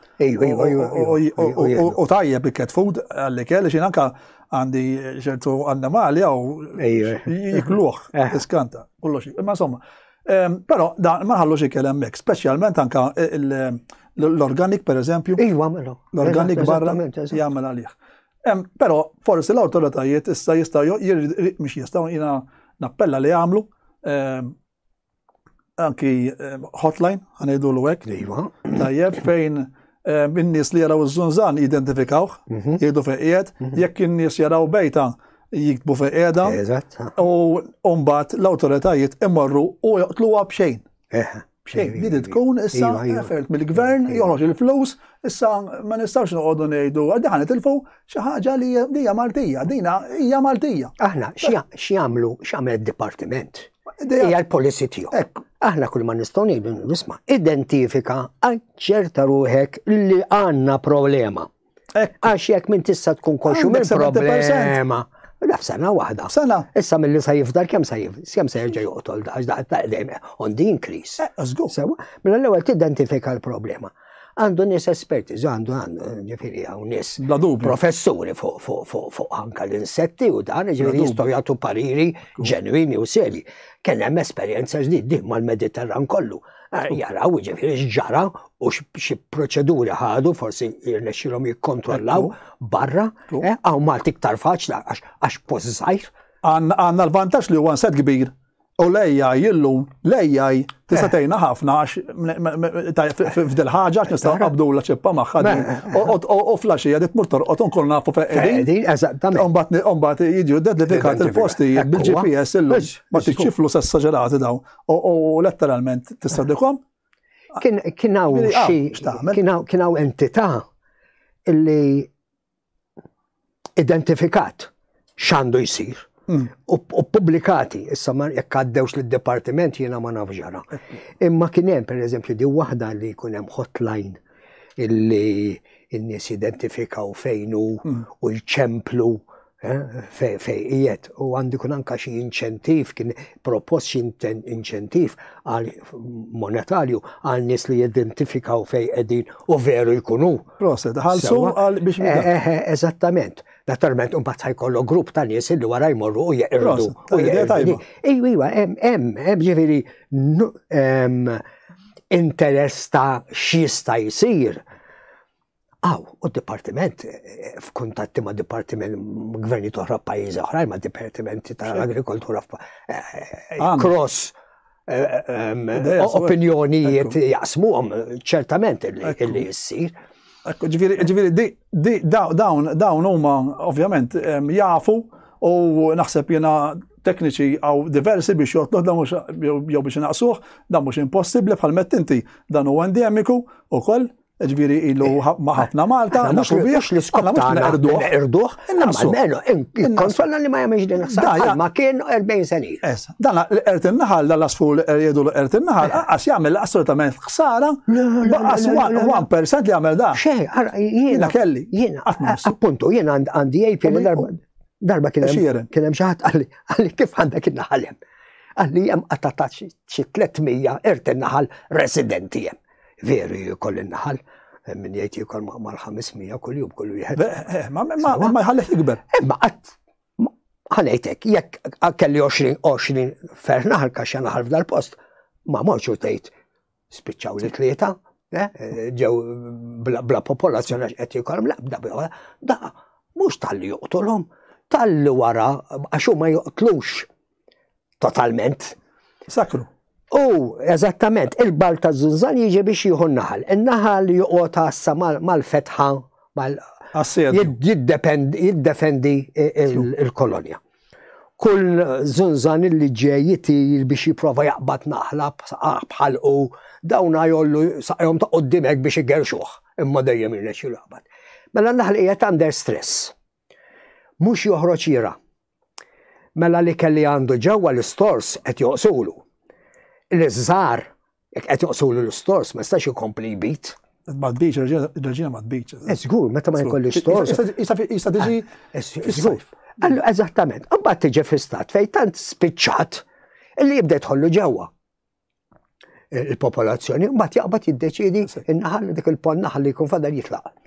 U tajja bi cat food għalli kelli xin anka għandi ċertu annimali għaw jikluħ, eh. iskanta, kollox. Ma insomma, ehm, pero da ma ħallux ikellem mek, specialment anka l-organik per eżempju. Iwa, mela. L-organik barra jgħamil għalih. Ehm, pero forsi l-autoritajiet issa jistaw, mux jistaw jina nappella li għamlu, ehm, anki eh, hotline, għanajdu l għek iva. Tajjeb fejn eh, minn nies li jaraw iż-żunżan jidentifikawh, mhm. jgħidu fejqiet, mhm. jekk in-nies jaraw bejta jiktbu fejqieda. U mbagħad l-awtoritajiet imorru u joqtluha b'xejn. Eh, b'xejn, li iva, tkun issa iva, iva. effort mill-gvern joħroġ il-flus, issa ma nistgħux noqogħdu ngħidu għaddaħan itilfu xi ħaġa li hija Maltija, dina hija Maltija. Aħna x'jagħmlu x'għamel id-dipartiment? Hija l-policy tiegħu. Aħna kull ma nistgħu ngħidu nisma' identifika ċerta ruħek li għandna problema. Għax jekk minn tista' tkun kolxu minn problema. Naf sena waħda. Sena. Issa mill-li sa jifdar kem sa jifdar, kem sa jirġa juqtol, għax daqqa ta' dejjem on the increase. Eh, Zgu. Sewa, mill-ewwel mela tidentifika l-problema. għandu nis esperti, għandu għandu, ġifiri għaw nis. Professuri fuq anka l-insetti u dan, ġifiri jistaw jgħatu pariri ġenwini u seri. Kena hemm esperienza ġdid din mal-Mediterran kollu. Eh, jaraw ġifiri xġara u xie proċeduri ħadu, forsi jirnexilom jikkontrollaw barra, eh, għaw Malti ktar faċla għax pozzajr. Għanna l-vantax li huwa set kbir U l-AI illum, l-AI tista' eh. tgħinna ħafna għax f'dil ħaġa għax nistgħu qabdu la ċippa magħha din. U flaxija dit mur torqod nkun nafu fejn qegħdin. Eżattament. Imbagħad jiġu identifikat il-postijiet bil-GPS illum. Ma tiċċiflu s-esaġerati daw. U letteralment tista' dikom. Kien hawn xi kien hawn entità illi identifikat x'għandu jsir mm. u publikati, issa ma jekk għaddewx lid departiment jiena ma nafx ġara. Imma kien hemm pereżempju di waħda li jkun hemm hotline illi n-nies identifikaw fejn hu mm. u jċemplu eh, fejqiet u għandu kun anka xi inċentiv kien propost xi inċentiv għal monetarju għal nies li jidentifikaw fejn qegħdin u veru jkunu Proset, ħalsu għal biex eh, minn. Eh, eh, eżattament. Naturalment, un bat ħajkollu grupp ta' nies illi wara jmorru u jeqirdu. Ejwa, ejwa, em, em, em, ġiviri, interess ta' xista jisir. Aw, u d-dipartiment, f'kuntatti ma' dipartiment gverni toħra pajizi oħrajn ma' dipartimenti ta' l-agrikoltura cross opinjonijiet jaqsmuhom ċertament illi jissir. Ġviri, dawn, dawn huma ovvjament jafu u naħseb jena tekniċi għaw diversi biex jotluħ dan mux jew biex naqsuħ, dan mux impossibli bħal mettinti dan u endemiku u koll ġviri ilu ma ħafna Malta, mux u biex li skopna mux nerduħ. Nerduħ, meno, konsolna li ma jamiex din l-ħsar, ma kien 40 sani. Dan l-ert il-naħal, dan l-asfu l-erjedu l-ert il-naħal, għax jgħamil assolutament ħsara, għas 1% li jgħamil da. Xej, jiena kelli. Jiena, appuntu, jiena għandi jgħib li darba. Darba kien hemm xi ħadd għalli kif għandek in-naħal hemm. Għalli hemm qattatat xi 300 ert in-naħal residenti hemm. Veru jikol il-naħal, eh, minn jgħid jikol maqmar 500 kull jum kull wieħed. Eh, eh, ma jħallek ikber. Ma qatt ħanejtek, jekk kelli 20-20 fer naħal kaxxa naħal f'dal post, ma morċu tgħid spiċċaw li tlieta, ġew bla popolazzjoni għax qed jikolhom labda bla da mhux tal-li joqtolhom, tal-li wara għax huma joqtlux totalment. Sakru. U, eżattament, il-bal ta' zunzan jiġi biex jieħu n-naħal. Il-naħal joqgħod għassa mal-fetħa, mal jiddefendi il-kolonja. Kull zunzan li ġej jitir biex jiprofa jaqbad naħla bħal u dawna jollu saqjom ta' qoddimek biex igerxuħ, imma dejjem il-leċi jaqbad. Mela naħli jiet under stress. Mhux joħroġ jira'. Mela l-ikel li għandu ġewwa l-istors qed joqsulu. L-iż-żgħar jekk qed joqsulu l-istors ma jistax ikompli jbid. Ma tbidx, il-reġina ma tbidx. Eh, żgur, meta ma jkollix stors. Jista' tiġi. Eh, eh, żgur. Allu, eżattament. Imbagħad tiġi fistat fejn tant spiċċat li jibda jħollu ġewwa. il-popolazzjoni, u bat jaqbad jiddeċidi in-naħal dik il-pon naħal li jkun fadal jitlaq.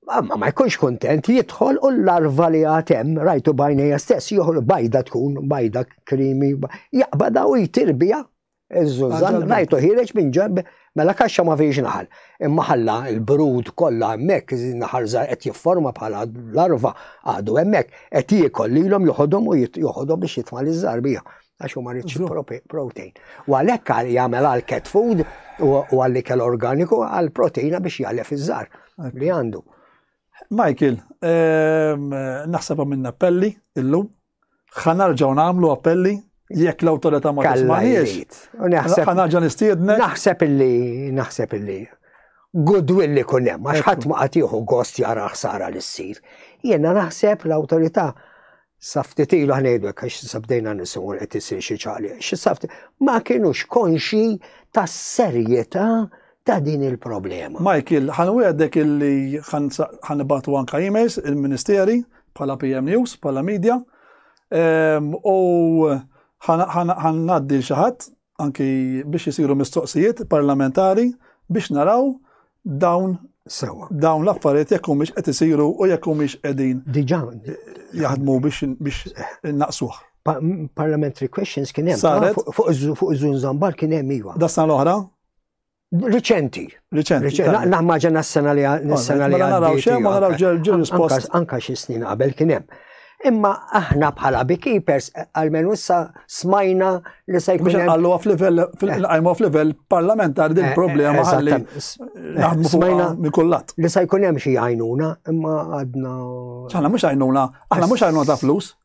Ma ma jkunx kontent jidħol u l-larva li għatem rajtu bajnija stess joħol bajda tkun, bajda krimi, jaqbada u jtirbija. Iż-żużan rajtu ħireġ minn ġemb mela kaxxa ma fiex naħal. Imma ħalla il-brud kollha hemmhekk naħal żgħar qed jifforma bħala larva għadu hemmhekk qed jiekol lilhom joħodhom u joħodhom biex jitma' liż-żarbija. għax huma rich protein. U għalhekk jagħmel għal cat food u għal ikel organiku għal proteina biex jgħalef iż-żar li għandu. Michael, ehm, naħseb minn appelli illum, ħanarġaw nagħmlu appelli jekk l-awtorità ma tismaħiex. Ħanarġa nistiedna. Naħseb illi, naħseb illi goodwill li kunem, għax ħadd ma qatiħu gost jara ħsara li ssir. Jiena naħseb l-awtorità Sa ftit ilu ħnejdu hekk għax sa bdejna nisimgħu qed isir xi ċaqli. Ma kienux konxi tas-serjetà ta' din il-problema. Michael, ħan għedek illi ħan batu anka emails il-ministeri bħala PM News, bħala media, ehm, u ħan naddi xaħat anki biex isiru mistoqsijiet parlamentari biex naraw dawn Sewa. Dawn l-affarijiet jekk humiex qed isiru u jekk humiex qegħdin. Diġà. Jaħdmu biex biex naqsuh. Parliamentary questions kien hemm. Fuq iż-żun żambar kien hemm iva. Dasna l-oħra? Riċenti. Riċenti. Naħmaġa nas-sena li s-sena li. Naraw xem, naraw ġenerus post. Anka xi snin qabel kien hemm. Imma aħna bħala beekeepers għalmen issa smajna li se jkun. Biex għallu għaf level, għajmu għaf level parlamentar din eh, eh, problema għalli. Smajna mikullat. Li se jkun hemm xi għajnuna, imma għadna. ċana mux għajnuna, aħna mux għajnuna ta' flus.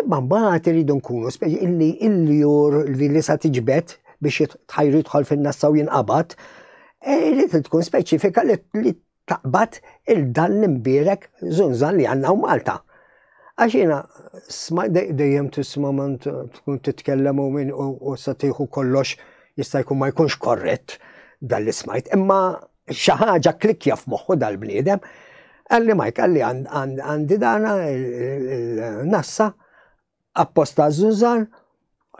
Imma mbagħad iridu nkunu illi il-jur li li sa tiġbed biex tħajr jidħol fin-nassa u jinqabad, e, irid tkun speċifika li taqbad il-dan l-imbirek zunzan li għanna u Malta. Għaxina, sma dejjem tisma man tkun titkellem u minn u satiħu kollox jista' jkun ma jkunx korrett dal-ismajt. Imma Xi ħaġa kklikkja f'moħħu dal-bniedem, qalli Mike, qalli għandi dana il-nassa apposta żużan,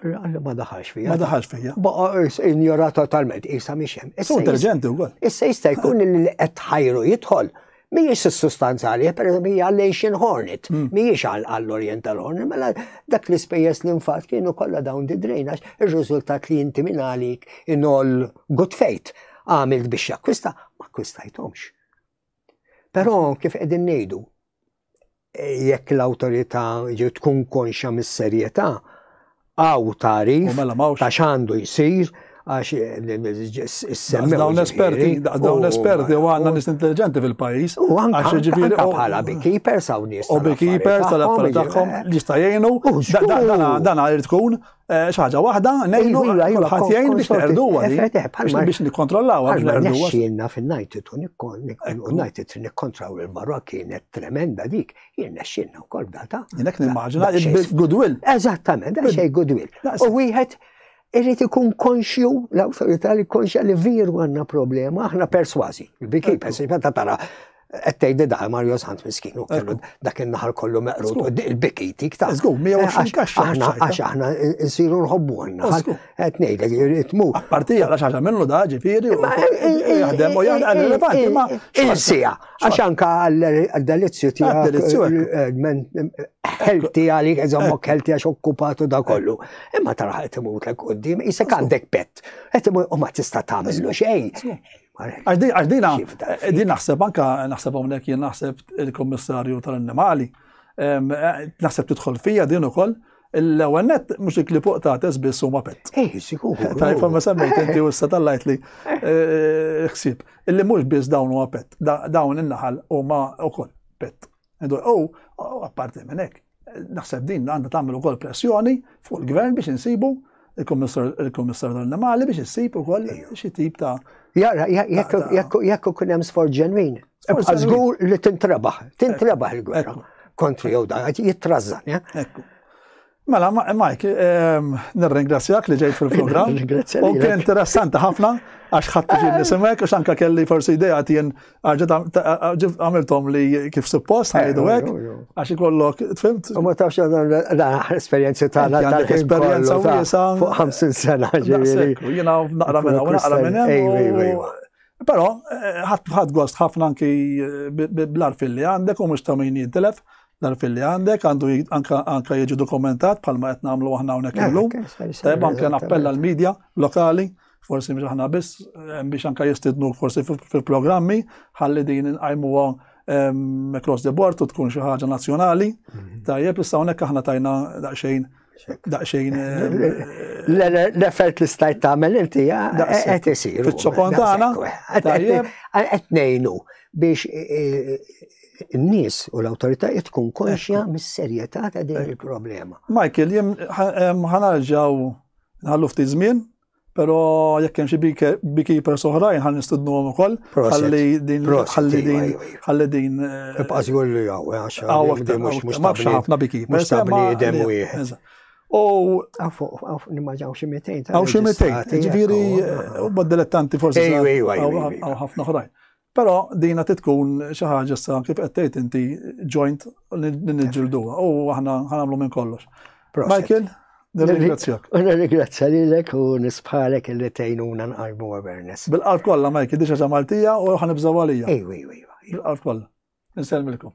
qalli ma daħalx fija. Ma daħalx fija. Baqa injora totalment, isa miex hemm. Issa intelligenti wkoll. Issa jista' jkun li qed ħajru jidħol Mijiex s-sustanzali, per eżempju, hija l-Asian Hornet, hmm. mijiex għall-Oriental Hornet, mela dak l ispejjeż li nfat kienu kollha dawn di drejnax, ir-riżultat li inti minn għalik in all good faith għamilt biex jakkwista, ma akkwistajtomx. Però kif qegħdin ngħidu, jekk l-awtorità ġew tkun konxja mis-serjetà għaw tarif U mela m'hawnx- ta' x'għandu jsir għax semmew. Dawn l-esperti, dawn l-esperti u għandna nies intelliġenti fil-pajjiż. U anka għax jiġifieri- anka bħala beekeepers hawn nies U tal-affarijiet beekeepers tal-affarijiet tagħhom li jista' jgħinu. U żgur. Dan għal tkun Eh, xaġa waħda, nejnu kulħadd jgħin biex neqrdu għadi. Biex nikkontrollaw għadi. Għalma nesċilna fil-najtitu najtitu nikkontraw il-barra kienet tremenda dik, jien nesċilna u kol data. Jenek nimmaġina il-goodwill. Eżattament, da xej goodwill. U wieħed irrit ikun konxju, l-autorità li konxja li viru għanna problema, aħna perswazi. Biki, perswazi, ta' tara, Għettej di daħal Mario Sant miskin u kellu dak il-naħar kollu meqrut u il-bikiti ktar. Zgur, 120 kaxxa. Għax aħna nsiru nħobbu għanna. Għet nejda jitmu. Parti għala xaġa minnu da ġifiri u jahdem u jahdem għal-relevanti ma. Il-sija, għax anka għal-delizju tijak. Delizju Helti għalik, eżammok helti għax okkupatu da kollu. Imma taraħ għet imut l-koddim, jisek għandek pet. Għet imut u ma tista tamillu xej. Għax dina, din naħseb anka naħseb hawnhekk jien naħseb il-Kummissarju tal-Annimali. Naħseb tidħol fija din ukoll l-ewwel net mhux ikli fuq ta' biss huma pett. Eh, sikur. Tajb ma semmejt inti u issa tallajt li eh, ħsieb. Illi mhux biss dawn huma pett, dawn in-naħal huma wkoll pett. U apparti minn hekk, naħseb din għandha tagħmel ukoll pressjoni fuq il-gvern biex insibu il-Kummissar tal-Annimali biex issib ukoll xi tip ta' Jara, jekk ikun hemm sforz ġenwin, żgur li tintrebaħ, tintrebaħ il-gwerra kontri jew dan, jittrażżan. Mela, Mike, ehm, nirringrazzjak li ġejt fil-program. U kien interessanti ħafna, għax ħadd ġin nisimek, għax anka kelli forsi idea tien għamiltom li kif suppost, għajdu għek, eh, eh, għax ikollok, tfimt? U ma tafx għadan l-aħħar esperienzi ta' l għandek esperienza u jisa. Fuq 50 sena ġiviri. Jina naqra minna, u naqra minna. Pero, eh, ħadd għost ħafna anki bl-arfil li għandek u mux ta' min jintilef. l-arfin li għandek, għandu anka jiġi dokumentat bħalma qed nagħmlu aħna hawnhekk eh, illum. Tajb anke nappella l-medja lokali, forsi mhux aħna biss eh, biex anka jistidnu forsi fil-programmi ħalli din inqajmuha ehm, across the board u tkun xi ħaġa nazzjonali. Mhm. Tajjeb issa hawnhekk aħna tajna daqsxejn daqxejn. L-effert li stajt tagħmel inti qed isir. Fiċ-ċokon tagħna. Qed ngħinu biex n-nies u l-awtoritajiet tkun konxja mis-serjetà ta' din il-problema. Michael, jien ħanarġaw nħallu ftit żmien Pero jekk hemm xi beekeepers oħrajn ħan nistudnuhom ukoll. Ħalli din ħalli din ħalli din. Ibqas jgħol li hawn għax hawn mhux mhux ma fx ħafna beekeepers. Mhux dem wieħed. U nimmaġaw xi 200. Għaw xi 200. Ġifieri huma dilettanti forsi. Ejwa ejwa. Għaw ħafna oħrajn. Però dina titkun xi ħaġa sa kif qed tgħid inti joint li niġġilduha u aħna ħanamlu minn kollox. Michael, nirringrazzjak. Nirringrazzja lilek u nisbħalek li tgħinuna nqalbu awareness. Bil-qalb kollha Michael, diġà ġa Maltija u ħanibżgħu għalija. Ejwa, ejwa, ejwa. Bil-qalb kollha. Nsellmilkom.